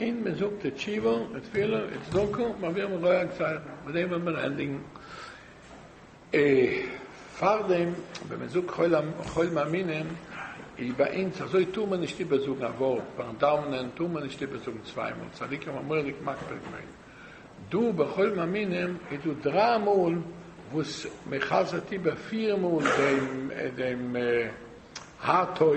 און מען זאגט די תשובה און תפילה און צדקה, מביאים א גוי א גזירה, מיט דעם וועט מען ענדיגן. פארדעם ווען מען זאגט חול מאמינים איז ביי אונז אזוי טאר מען נישט איבערזאגן א ווארט, פארן דאווענען טאר מען נישט איבערזאגן צוויי מאל, צדיקים האבן מורא'דיג מקפיד געווען. דא ביי חול מאמינים איז דא דריי מאל וואס מען חזר'ט איבער פיר מאל דעם הא טוב,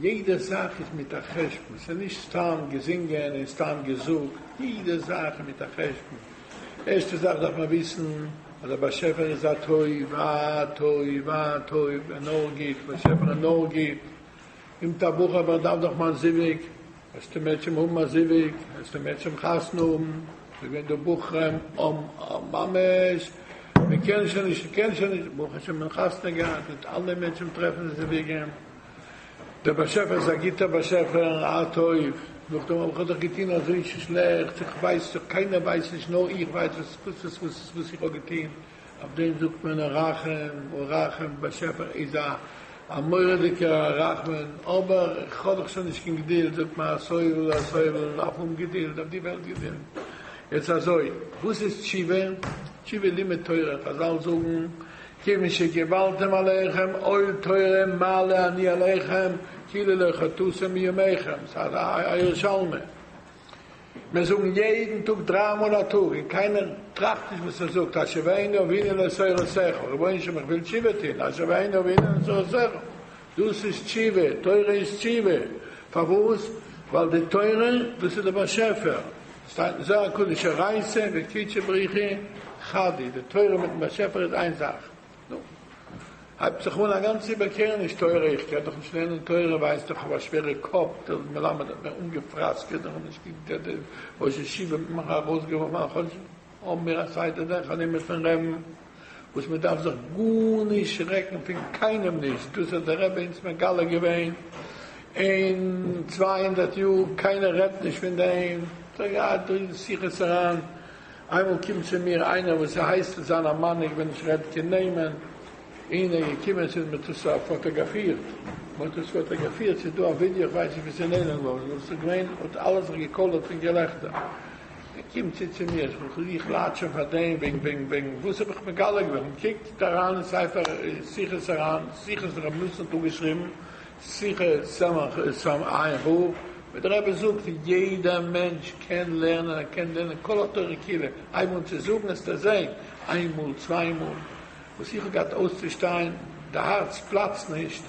יעדע זאך איז מיט א חשבון, ס'איז נישט סתם געזינגען און סתם געזאגט, יעדע זאך איז מיט א חשבון, ערשטע זאך דארף מען וויסן אז דער באשעפער איז א טוב, א טוב, א טוב, און נאר גוט, באשעפער איז נאר גוט, אם תבוך אבער איך דארף דאך מיין זיווג, העסטו מער צום האבן א זיווג, העסטו מער צום חתונה האבן, ס'איז געווען דא בחרים אויף ממש, מ'קען שוין נישט, מ'קען שוין נישט, ברוך השם מען האט חתונה געהאט, מיט אלע מענטשן טרעפן זיוויגים. דער באשעפער איז א גוטער באשעפער, א טוב, נאכדעם האב איך דאך געטון אזוי שלעכטס, איך ווייס דאך, קיינער ווייסט נישט, נאר איך ווייס וואס וואס וואס וואס וואס איך האב געטון, אויף דעם זאגט מען א רחום ורחום, דער באשעפער איז א א מורא'דיגער א רחמן, אבער איך האב דאך שוין נישט קיין געדולד, זאגט מען א סובל א סובל, דארף האבן געדולד, אויף די וועלט געדולד, יעצט אזוי, וואס איז תשובה? תשובה איז לימוד תורה, חזל זאגן, כיוון שקיבלתם עליכם עול תורה מעלה אני עליכם כאילו לא חטאתם מימיכם, סא א ירושלמי מיר זאגן יעדן טאג דריי מאל א טאג און קיינער טראכט נישט וואס ער זאגט, אשר ואינו עוינן על סורת שכל, רבונו של עולם איך וויל תשובה טוהן, אשר ואינו עוינן על סורת שכל, דאס איז תשובה, תורה איז תשובה, פארוואס? ווייל די תורה דאס איז די באשעפער, ס'שטייט אין זוהר הקדוש הרייסה וקידשה בריחי חדי, די תורה מיטן באשעפער איז איין זאך, נו, הייבט זיך אן א גאנצע איבערקערעניש, תורה, איך קען דאך נישט לערנען תורה, ווייסט איך האב א שווערע קאפ, דער מלמד האט מיר אנגעפראסקעט, איך האב נישט געקענט, דער ראש ישיבה האט מיר ארויסגעווארפן פון חדש. האבן מיר א סדר דרך הלימוד פון רעבן וואס מען דארף זיך גארנישט שרעקן פון קיינעם נישט, דאס האט דער רבי אונז מגלה געווען אין צוויי הונדערט יאר, קיינער רעדט נישט פון דעם, כ'האב געהאט דא אין שיחות הרן, איינמאל קומט צו מיר איינער וואס איז הייס צו זיין א מנהיג ווען איך רעד קען נעמען, אין ער געקומען עס איז מען האט עס פאטאגאפירט, מען האט עס פאטאגאפירט ס'איז דא א ווידיא איך ווייס נישט ווי ס'איז נעלם געווארן, וואס איז געווען האט אלע זיך געקאלערט פון געלעכטער. ער קומט צו צו מיר, איך וויל זיך לאטשען פאר דעם וועגן וועגן וועגן וואס האב איך מגלה געווען, מען קוקט אריין אין ספר שיחות אריין, שיחות ר' ניסן האט אפגעשריבן, שיחות סמ א עמ' ה, ווי דער רבי זאגט, יעדע מענטש קען לערנען, ער קען לערנען כל התורה כולה, הייב אן צו זאגן העסטו זען, איין מאל צוויי מאל, וואס איך האב געהאט אויסצושטיין, די הארץ פלאצט נישט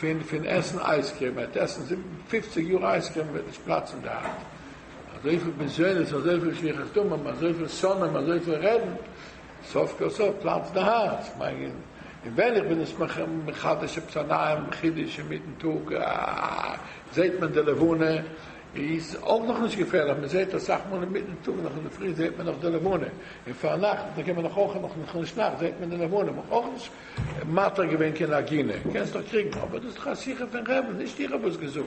פון פון עסן אייזקרים, ער וועט עסן זיבן פופציג יאר אייזקרים וועט נישט פלאצן די הארץ, אזויפיל בזיונות, אזויפיל שפיכת דמים, אזויפיל שונאים, אזויפיל רעדן, סוף כל סוף פלאצט די הארץ, מיין און ווען איך בין עס מחדש עפעס א נייעם חידוש אינמיטן טאג, זעט מען די לבנה, איז אויך נאך נישט געפערליך, מען זעט אסאך מאל אינמיטן טאג נאך אינדערפרי זעט מען נאך די לבנה, און פארנאכטס דערקענט מען נאך אויך נאך נאכנישט נאכט זעט מען די לבנה, מען האט אויך נישט מטריח געווען קיין עגינה, קענסט דאך קריגן, אבער דאס איז דאך א שיחה פון רעבן, נישט איך האב עס געזאגט,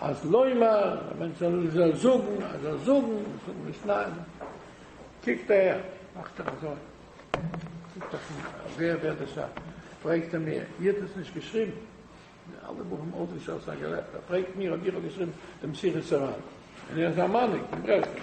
אז לומר, א מענטש זאל זאל זאגן, אז זאל זאגן, זאגן נישט ניין, קוקט אהער, מאכט ער אזוי, זאגט ער פון ווער ווערט דאס א, פרעגט ער מיר, איר האט עס נישט געשריבן? די אלע בחורים האלטן נישט אויס א געלעכטער, ער פרעגט מיר אויב איך האב געשריבן דעם שיחת סרן, און ער איז א מנהיג אין ברסלב.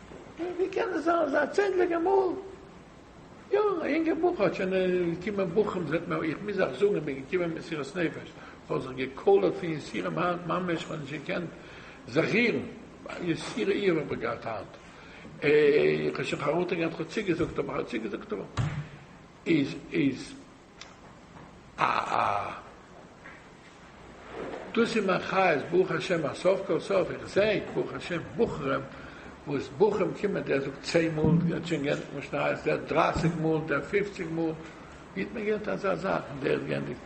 ווי קען עס זיין אזא צענדליגע מאל יא א יונגע בחור האט שוין געקומען בוכים זעט מען איך מוז אייך זאגן איך בין געקומען מסירות נפש איך האב זיך געקאלערט פון יסורים היינט ממש איך האב נישט געקענט זיך רירן יסורי איוב האב איך געהאט היינט איך האב שוין חרטה געהאט איך האב צוגעזאגט אבער איך האב צוגעזאגט אבער איז איז אה אה. דאס איז מיין חיות ברוך השם אז סוף כל סוף איך זע ברוך השם בחורים וואס בחורים קומען דער זאגט צען מאל דער האט שוין געענדיגט משניות דער דרייסיג מאל דער פופציג מאל ווי האט מען געהערט אזא זאך דער האט געענדיגט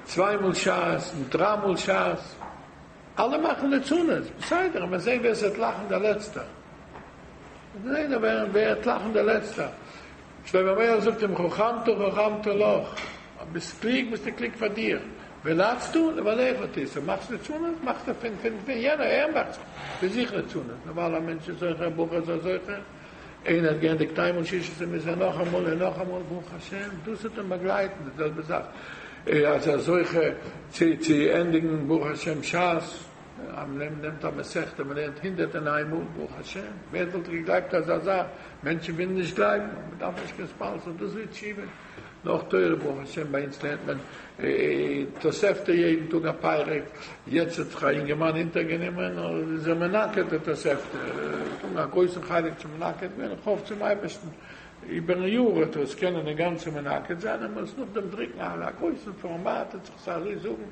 צוויי מאל שס און דריי מאל שס. אלע מאכן ליצנות, בסדר, עמער זעהן ווער ס'וועט לאכן דער לעצטער, עמער זעהן ווער וועט לאכן דער לעצטער, שלמה המלך זאגט אים חכמתא חכמתא לך, אז ביסט קלוג ביסטו קלוג פאר דיר, ולצתו לבעליך תישא, מאכסט ליצנות מאכסטו פין פין פין יענער, ער מאכט זיך פין זיך ליצנות, נארמאל א מענטש איז זוכה, א בחור זאל זוכה. איינער האט געענדיגט איינמאל ששת ימים איז ער נאכאמאל און נאכאמאל ברוך השם דאס וועט אים באגלייטן די זעלבע זאך אז ער זוכה צו צו ענדיגן ברוך השם שס אז מען נעמט א מסכתא מען לערנט הונדערט און איין מאל ברוך השם ווער וואלט געגלייבט אזא זאך מענטשן ווילן נישט גלייבן אבער מען דארף נישט קיין ספאנסער דאס ווערט שיעבען. נאך תורה ברוך השם ביי אונז לערנט מען תוספתא יעדן טאג א פרק, יעצט האט זיך א אינגערמאן אונטערגענומען איז ער מנקד די תוספתא, ער האט אן א גרויסן חלק צו מנקד ווערן, איך האף צום אייבערשטן איבערן יאר וועט ער עס קענען אינגאנצן מנקד זיין, ער מוז נאכדעם דרוקן א גרויסן פארמאט און זיך עס אזוי זאגן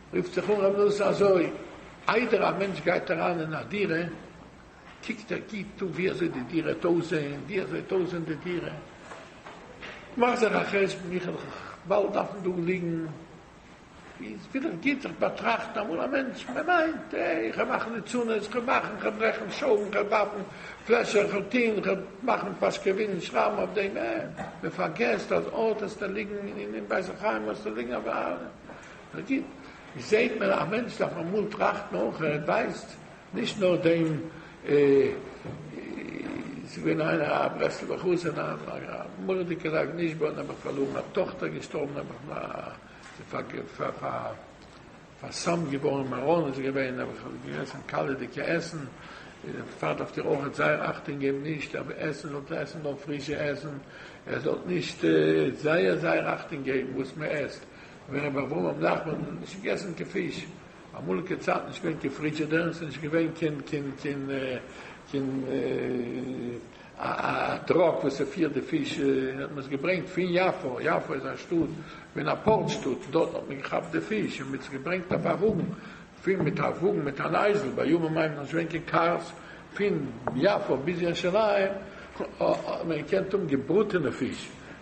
רופט זיך אן ר' נאסער אזוי, איידער א מענטש גייט אריין אין א דירה, קוקט ער גוט אן ווי אזוי די דירה האט אויסזעהן, ווי אזוי האט אויסזעהן די דירה, מאכט זיך א חשבון, איך וועל באלד דארפן דא ליגן, איז וויל איך גוט זיך באטראכטן אמאל א מענטש, מען מיינט, אה, איך וועל מאכן ליצנות, איך וועל מאכן, איך וועל ברעכן שויבן, איך וועל ווארפן פלעשער, איך וועל טוהן, איך וועל מאכן פאשקעווילן, שרייבן אויף דעם, אה, מען פארגעסט אז אט האסטו ליגן אין בית החיים האסטו ליגן א וויילע. נאר גוט, ווי זעהט מען א מענטש דארף אמאל טראכטן אויך ער ווייסט נישט נאר דעם ס'איז געווען איינער א ברסלב'ער חזן א מורא'דיגע נגן איש באנו האבן פארלוירן א טאכטער געשטארבן האבן איך מיר פאר'סמ'ט געווארן מירון איז געווען האב איך געגעסן קאלעדיגע עסן דער פאטער דארפט איר אויך זייער אכטונג געבן נישט אויף עסן זאלט איר עסן נאר פרישע עסן איר זאלט נישט זייער זייער אכטונג געבן וואס מען עסט ווען רבי אברהם נחמן האט נישט געגעסן קיין פיש, אמאליגע צייטן איז נישט געווען קיין פרידזשעדער, ס'איז נישט געווען קיין קיין קיין קיין א טראק וואס ס'פירט די פיש, האט מען עס געברענגט פון יפו, יפו איז א שטאט ווען א פארט שטאט, דארט האט מען געכאפט די פיש און מיט'ס געברענגט אויף א וואגן, פון מיט א וואגן מיט אן אייזל, בימים ההם איז נישט געווען קיין קארס, פון יפו ביז ירושלים האט מען געקענט האבן געבראטענע פיש.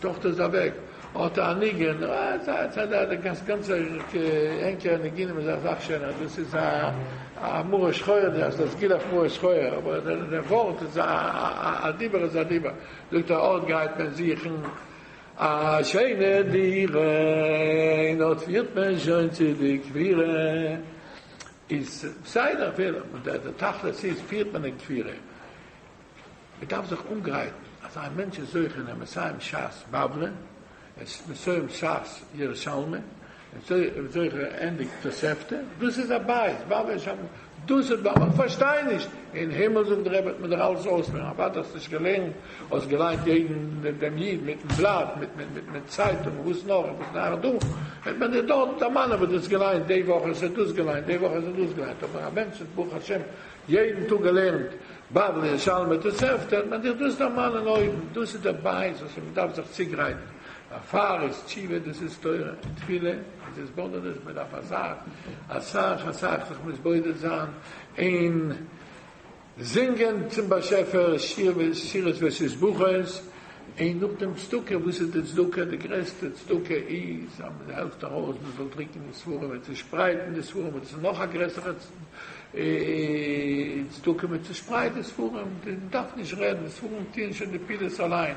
טאָכטער איז אַװעק. האָט אַ ניגון. דאָס גאַנצע ענקערע ניגונים איז אַ זאַך שױן, אַז דאָס איז אַ מרה שחורה, דאָס הײסט, דאָס גילח מרה שחורה, אָבער דער װאָרט איז אַ, אַ דיבור איז אַ דיבור. זאָגט ער, אָט גײט מען זוכן אַ שײנע דירה, און אָט פֿירט מען שױן צו די קבורה. איז בסדר אפילו, אבער דער דער תכלית איז פירט מען אין כפירה. מען דארף זיך אנגרייטן אז א מענטש איז זוכה אין א מסיים שס בבלי, ער איז מסיים שס ירושלמי, ער איז זוכה ענדיגט תוספתא, דאס איז א בית, בבלי איז שם, דאס איז, אבער איך פארשטיי נישט, אין הימל זאגט דער רבי וועט מען דיר אלעס אויסלערנען, אוודאי האסט נישט געלערנט, האסט געליינט יעדן דעם איד מיטן בלאט, מיטן צייטונג, וואס נאך און וואס נאך דא, וועט מען דיר דארט דערמאנען וואס דו האסט געליינט די וואך, האסט דו דאס געליינט די וואך, האסט דו דאס געליינט, אבער א מענטש וואס ברוך השם יעדן טאג געלערנט בבלי, ירושלמי, תוספתא, וועט מען דיר דאס דערמאנען אויבן, דאס איז דער בית וואס מען דארף זיך צוגרייטן, דערפאר איז תשובה, דאס איז תורה און תפילה און התבודדות, מען דארף אסאך אסאך אסאך זיך מתבודד זיין אין. זינגען צום באשעפער שירות, שירות ועשית ברכות, און נאכדעם צדקה, וואס איז די צדקה? די גרעסטע צדקה איז אז מען העלפט ארויס, מען זאל דרוקן די ספרים און צושפרייטן די ספרים, וואס איז נאך א גרעסערע צדקה ווי צושפרייט די ספרים? מען דארף נישט רעדן, די ספרים טוען שוין די פעולות אליין.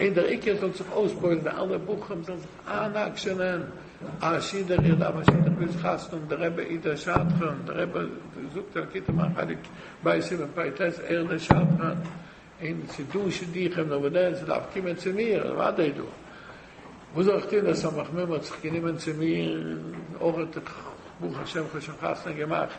און דער עיקר זאל זיך אויסבויען די אלע בחורים זאלן זיך איינאקשענען א שידוך איך דארף א שידוך וויל זיך חתנ'ן דער רבי איז דער שדכן דער רבי זאגט אין לקוטי מוהר ן חלק ב' סימן פ ט ער איז דער שדכן און ס'איז דא שידוכים נאר ווען ער דארף קומען צו מיר אז אוודאי איז דא וואס זאל איך טון דער סמך מום האט זיך גענומען צו מיר אויך איך ברוך השם כ'האב שוין חתונה געמאכט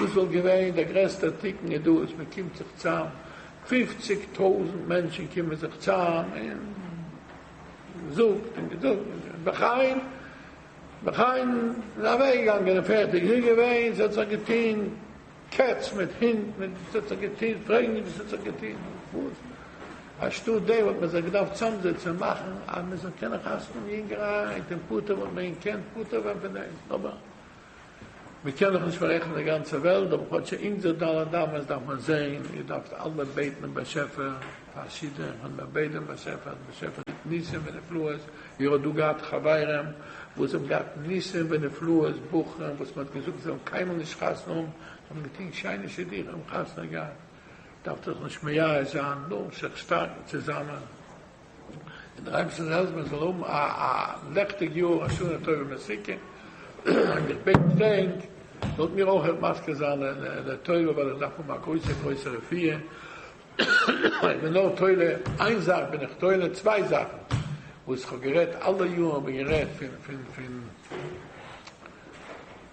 דאס וואלט געווען דער גרעסטער תיקון איז דא אז מען קומט זיך צאם פֿופֿציק טויזענט מענטשען קומען זיך צאם און זאגט און געזאגט און בחן בחן און אוועק געגאנגען און פערטיג איז געווען ס'האט זיך געטוהן קעץ מיט הונט מיט ס'האט זיך געטוהן פרעג נישט וואס ס'האט זיך געטוהן וואס אנשטאט דעם וואלט מען זיך געדארפט צאם זיצען און מאכען אז מען זאל קענען חתמ'ן יונגערהייט און פטור וואלט מען געקענט פטור ווען פון דעם אבער מען קען דאך נישט פאררעכטן די גאנצע וועלט, אבער כאטש אונזער ד' אמות דארף מען זען, איר דארפט אלעמען בעטן דעם באשעפער פאר שידוך, און מען בעט דעם באשעפער אז באשעפער טוט ניסים ונפלאות, איר האט דא געהאט חברים וואס האבן געהאט ניסים ונפלאות, בחורים וואס מען האט געזאגט זיי זאלן קיינמאל נישט חתונה האבן, זיי האבן געטון שיינע שידוכים און חתונה געהאט, דארפט איר זיך נישט מייאש זיין, נאר זיך שטארקן צוזאמען. און דער אייבערשטער זאל העלפן איך זאל האבן א א לעכטיג יאר א שנה טובה ומתוקה, און איך בעט און דענק זאלט מיר אויך אויך מזכה זיין לטובה ווייל איך דארף האבן א גרויסע גרויסע רפואה, איך בין נאר תולה איין זאך בין איך תולה צוויי זאכן וואס איך האב גערעדט אלע יארן האב איך גערעדט פון פון פון.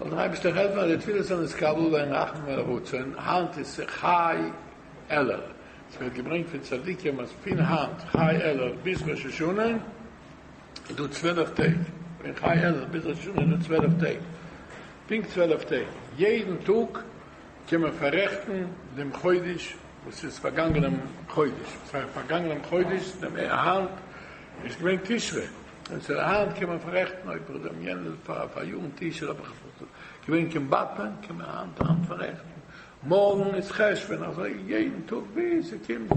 זאל דער אייבערשטער העלפן אז די תפילות זאלן נתקבל ווערן רחמים ולרצון, היינט איז צו חי אלול, עס ווערט געברענגט פון צדיקים אז פון היינט חי אלול ביז ראש השנה איז דא צוועלף טעג, פון חי אלול ביז ראש השנה איז דא צוועלף טעג, פונקט צוועלף טעג, יעדן טאג קען מען פאררעכטן דעם חודש וואס איז פארגאנגענעם חודש, וואס הייסט פארגאנגענעם חודש, היינט איז געווען תשרי, און צו דער האנט קען מען פאררעכטן אויב איך דעם יענעם פאר פאר יארן טישער האב איך עס געווען קען באטמען קען מען היינט היינט פאררעכטן מארגן איז חשבון אזוי יעדן טאג ביז ס'קומט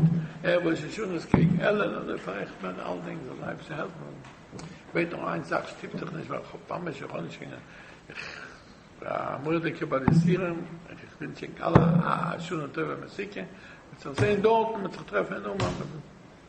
ערב ראש השנה עס קעגן עלען אזוי פאררעכט מען אלדינג זאל די אייבערשטער העלפן איך בעט נאר איין זאך שטופ דיך נישט ווייל כ'האב ממש איך האב נישט קיין איך בין א מורא'דיגער ביי די סירעם און איך ווינטש ענק אלע א שנה טובה מסוכה מ'עט זיך זעהן דארטן מ'עט זיך טרעפן אין אומאן.